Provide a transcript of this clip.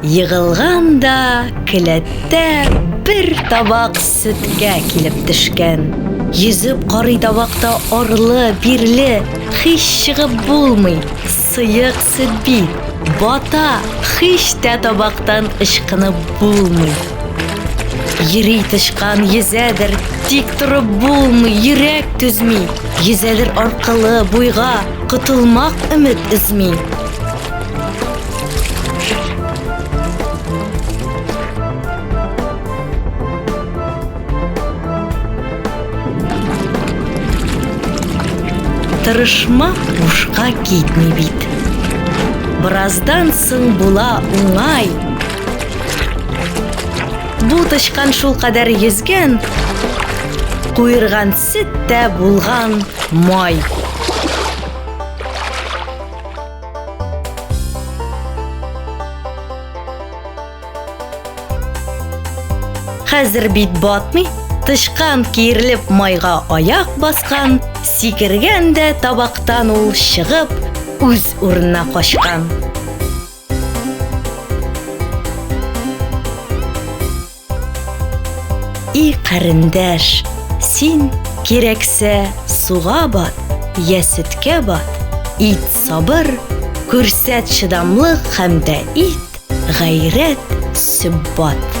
Егылган да келәттә бер табак сөткә килеп төшкән. Йөзеп карый табакта арлы, бирле, хич чыгып булмый, сыек сөт бит, бата, хич тә табактан ычкынып булмый. Йөри тычкан, йөзәдер, тик торып булмый, йөрәк түзми, йөзәдер аркылы, буйга, котылмак өмет өзми. Тырышмак бушка китми бит. Бераздан соң була уңай. Бу тычкан шул кадәр йөзгән, куерган сөт тә булган май. Хәзер бит батмый, тычкан киерлеп майга аяк баскан, сикергән дә табактан ул чыгып, үз урынына качкан. И карендәш, син кирәксә суга бат, я сөткә бат, ит сабыр, күрсәт чыдамлык һәм дә ит гайрәт сөббат.